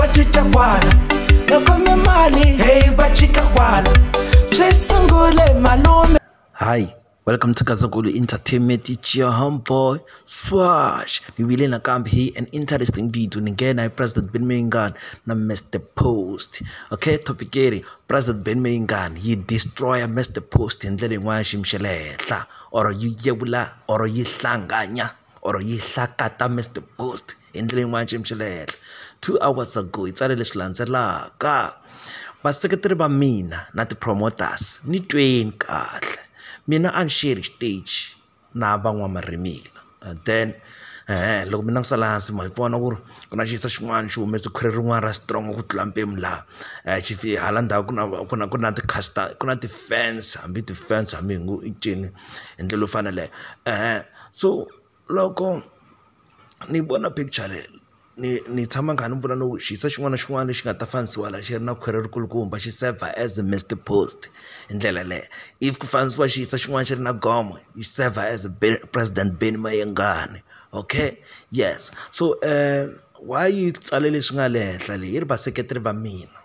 va cinca kwala hi khome mali heyi va cinca kwala swi sungule malume hayi welcome to gazakulu entertainment it's your homeboy swash ni vile nakambe hi an interesting video ni nghena hi president ben mayingan na mr post okay topic eri president ben mayingan yi destroya mr post hi ndlela yin'wana ya xiyimo xa le henhla or yi yevula or yi hlanganya or yi hlakata Mister Post hi ndlela yin'wani xiyimo xa le henhla two hours ago yi tsale leswi landzelaka vaseketeri va mina na ti-promoters ni tweni kahle mina a ni xiye ni xiteji na van'wamarimila and then loko mi langutisa laha hansi ma yi vona ku ri ku na xiyisa xin'wana xi humese khwiri rin'wana ra strong ku tlula mpimo laha xi fika hala ndzhaku ku na ku na ku na ti ku na ti-fans hambi ti-fans hambi hi ngo i cini hi ndlela yo fana na yaleyo . so loko ni vona picture leyi ni ni tshama ni kha ni vula no xiso xin'wana na xin'wana lexi nga ta fanisiwa la xi ri na khwiri ri kulukumba xi saver as a missed post hi ndlela yaleyo if ku fanisiwa xiso xin'wana xi ri na gomo yi saver as president Benny Mayengani okay yes so why yi tsale leswi nga le henhla le yi ri vaseketeri va mina.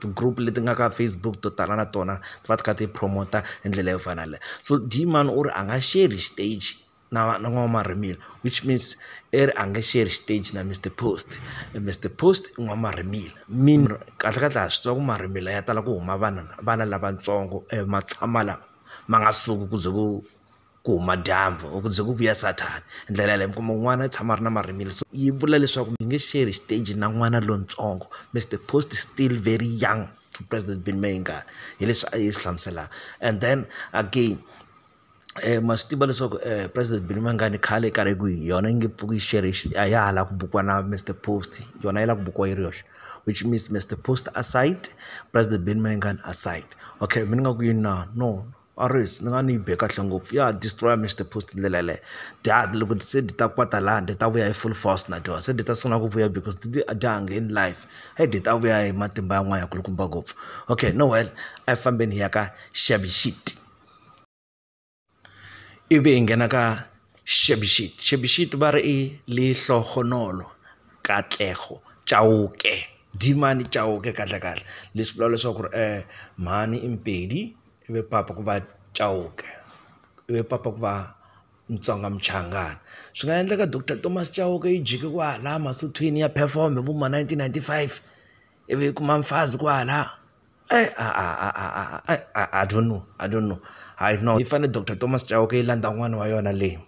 ti-group leti nga ka Facebook to tala na tona ti va ti kha ti promote hi ndlela yo fana na leyo so Dmani u ri a nga sheri xiteji na na n'wamarimelo which means i ri a nge sheri xiteji na Mister Post Mister Post i n'wamarimelo mean kahle kahle ha swi tiva ku marhimila ya tala ku huma vana vana lavatsongo ma tshama lama ma nga suki ku ze ku. ku huma dyambu or ku ze ku vuya sathana hi ndlela yaleyo mi kuma ku n'wana i tshama a ri na marhimila so yi vula leswaku mi nge share xiteji na n'wana lontsongo Mister Post still very young to press the bin mi nga hi leswi a yi swi hlamuselaka and then again ma swi tiva leswaku president Billy Mangani khale karhi ku hi yona yi nge pfuki yi xerhe a ya ha la ku bukiwa na Mister Post yona yi lava ku bukiwa yi ri yoxe which means Mister Post aside president Billy Mangani aside okay mina ni nga ku yini na no. Arries ni nga ni yi be kahle ngopfu ya destroy Mister Post hi ndlela yaleyo dya loko se dyi ta kwata lani dyi ta vuya hi full force na dyondza se dyi ta sungula ku vuya because a dya ha ngheni life se dyi ta vuya hi matimba yan'wana ya kulukumba ngopfu okay no well a hi fambeni hi ya ka xavi xitt ivi hi nghena ka xavi xitt xavi xitt va ri i lihlohonolo katlego chauke dimani chauke kahle kahle leswi vulaka leswaku ri mhani i Mpedi. i ve papa ku va Chauke i ve papa ku va Mutsonga Muchangana swi nga endleka doctor Thomas Chauke yi jike kwahala Masothweni ya perform hi vo ma nineteen ninety five i vi yi kuma mfazi kwahala a I don't know I don't know hayi no yi fanele doctor Thomas Chauke yi landza n'wana wa yona leyi.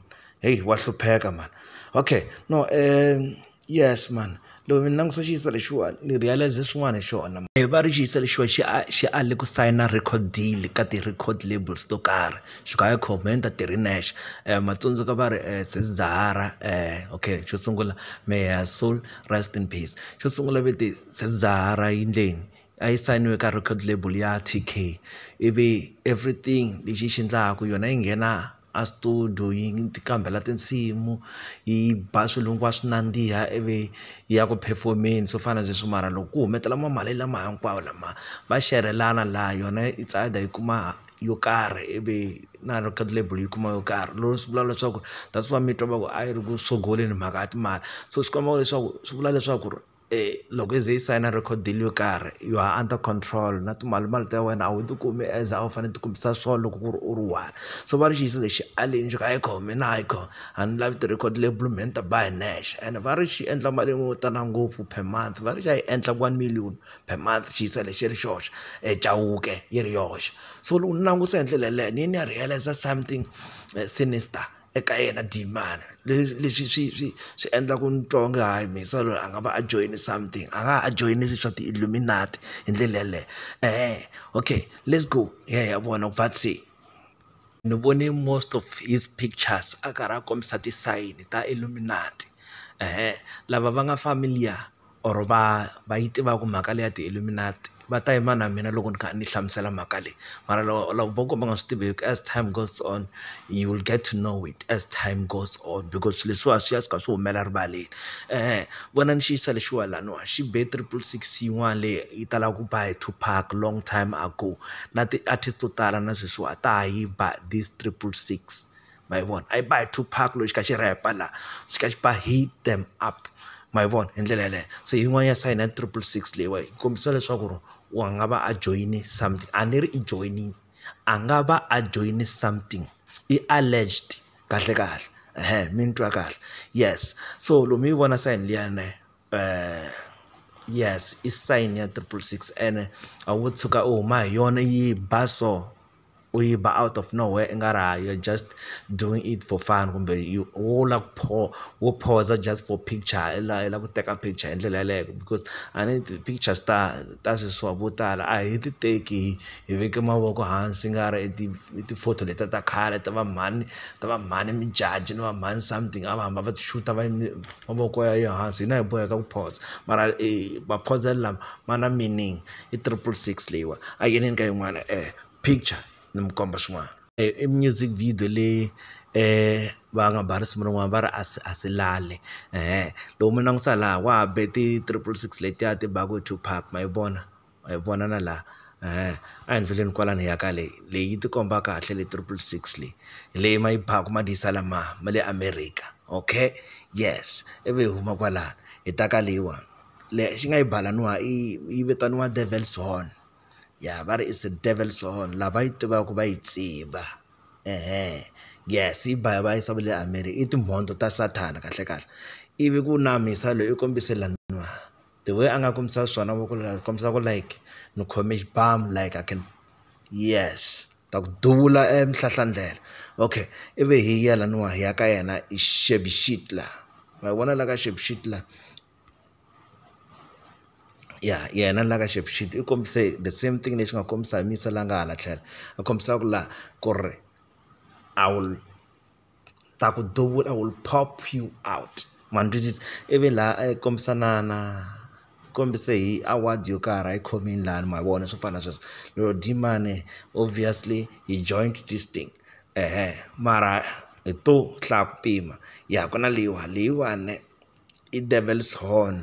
heyi wa hlupheka mhani okay no um yes mhani loko mi langutisa xiyisa lexiwani ni realise swin'wana hi xona va ri xiyisa lexiwa xi a xi ale ku sayina record deal ka ti-record labels to karhi Xigaya Comenta ti ri nexe ma tsundzuka va ri sesi Zahara okay xo sungula may her soul rest in peace xo sungula ve te sesi Zahara yi endleni a yi sayiniwe ka record label ya T_K ivi everything lexi yi xi endlaka yona yi nghena. a studio yi ti qambhela tinsimu yi ba swilo hinkwaswo nandziha ivi yi ya ku perform-eni swo fana na sweswo mara loko ku humelela ma mali lama hinkwawo lama va xerhelana laha yona it's either yi kuma yo karhi ivi na record label yi kuma yo karhi lero swi vula leswaku that's why mi twa va ku a yi ri ku sogoleni mhaka ya timali so swi komba leswaku swi vula leswaku ri. loko yi ze yi sayina record deal yo karhi you are under control na timalimali ta wena a wu ti kumi as a wu fanele u ti kumisa swona loko ku ri u ri one so va ri xi lexi aleni ni ku hayi kha mina hayi kha a ni lavi ti-record label me ni ta ba hi nexe ene va ri xi endla mali yo tala ngopfu per month va ri xa yi endla one million per month xi yisa lexi ri xoxe Chauke yi ri yoxe so loko ni langutisa hi ndlela yeleyo ni ye ni ya realise something sinister. eka yena demand leswi leswi swi swi swi endla ku ni twa onge hayi Mhisa loyi a nga va a joyine something a nga a joyine leswi swa ti-illuminate hi ndlela yeleyo eeh okay let's go hi ya hi ya vona va thini se ni vone most of his pictures a karhi a kombisa ti-sign ta illuminate eeh lava va nga familiar. or va va yi tivaka mhaka leyi ya ti-illuminati va ta yima na mina loko ni kha ni hlamusela mhaka leyi mara loko vo ka va nga swi tivi hi ku as time goes on you will get to know it as time goes on because swilo leswiwa swi ya swi kha swi humela rivaleni vona ni xiyisisa lexiwa laniwa xi be triple six yin'wana leyi yi talaka ku ba hi two pack long time ago na ti-artist to tala na sweswiwa ta ha yi ba this triple six. ma yi vona a yi ba hi two pack loko xi kha xi rhepa la xi kha xi ba heat them up ma yi vona hi ndlela yeleyo se yin'wana ya sayina ya triple six leyiwa yi kombisa leswaku ri wa nga va a joyine something a ni ri i joyinile a nga va a joyine something i alleged kahle kahle ehe mi ni twa kahle yes so lomu yi vona sayini liya ne yes i sayini ya triple six ene a wu tshuka u huma hi yona yi ba so. u yi ba out of no where i nga ri ha yo just doing it for fun kumbe you wo lava ku pho wo phoza just for picture i la i lava ku teka picture hi ndlela yeleyo because a ni ti-pictures ta ta sweswiwa vo tala a hi ti teki hi veke mavoko hansi i nga ri i ti i ti-photo letiya ta khale ta va mhani ta va mhani Modjadji ni va mhani something a va hamba va ti xuta va yime mavoko ya hansi hina hi boheka ku phoza mara maphozelo lama ma na meaning. i triple six leyiwa a yi yini ka yin'wana picture ni mi komba swin'wana i music video leyi va nga ba risimu rin'wana va ri a si a si lale loko mi langusa laha wa ha be ti triple six letiya ti baku hi two pack ma yi vona ma yi vona na laha a hi ndluleni kwalano hi ya ka le leyi yi ti komba kahle le triple six leyi hi leyi ma yi baku ma ti yisa la ma ma le America okay yes ivi hi huma kwalano hi ta ka leyiwani. lexi nga yi balaniwa i yi vitaniwa devil's horn ya va ri is a devil's horn lava yi tivaka va yi tiva yes yi ba va yisa va le America i timhondzo ta sathana kahle kahle ivi ku na mhisa loyi u kombise laniwa the way a nga kombisa swona voko leri ri kombisa ku like ni khome xibamu like I can yes ta ku duvula e mihlahla ndlela okay ivi hi ya laniwa hi ya ka yena hi xevuxiti laha ma yi vona la ka xevuxiti la. ya yena la ka xi i kombise the same thing lexi nga kombisa hi misa la nga hala tlhelo a kombisaka la ku ri I will ta ku duvula I will pop you out ma ni twisisa ivi laha a yi kombisa na na u kombise hi award yo karhi a yi khomile lani ma vona swo fana na sweswo lero Dlemmane obviously he joined this thing mara hi to hlaya ku pima ya ku na leyiwani leyiwani. i Devil's Horn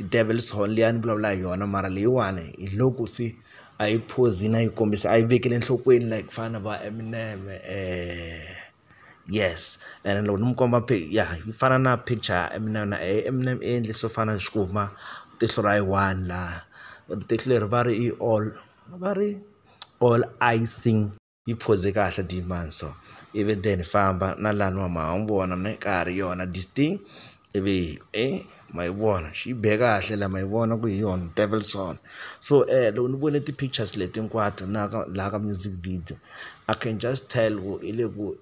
i Devil's Horn liya ni vulavula hi yona mara leyiwani hi loko se a yi phuzini a yi kombisa a yi vekeli enhlokweni like ku fana na va Eminem yes ene loko ni mi komba ya yi fana na picture ya Eminem na yena Eminem i endle swo fana na xikhumba tihlo ra yi one laha tihlo leri va ri i all va ri all eyes. yi phoze kahle dear man so ivi then famba na lani wa ma ha n'wi vona na ka ha ri yona this thing ivi e ma yi vona xi yi be kahle la ma yi vona ku hi yona Devilson so loko ni vone ti-pictures leti hinkwato na ka laha ka music video I can just tell ku hi le ku.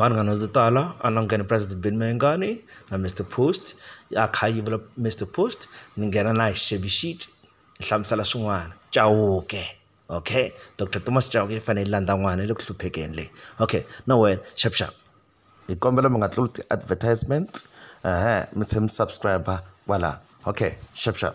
vanhu vanhu vo tala a ni nghena President Ben Mayengani na Mister Post a kha a yivula Mister Post ni nghena na hi Xevi sheet ni hlamusela swin'wana Chauke okay Doctor Thomas Chauke yi fanele yi landza n'wana yi le ku hluphekeni leyi okay na wehe xap xap hi kombela mi nga tluli ti-advertisements ehe mi tlhela mi subscribe kwala okay xap xap.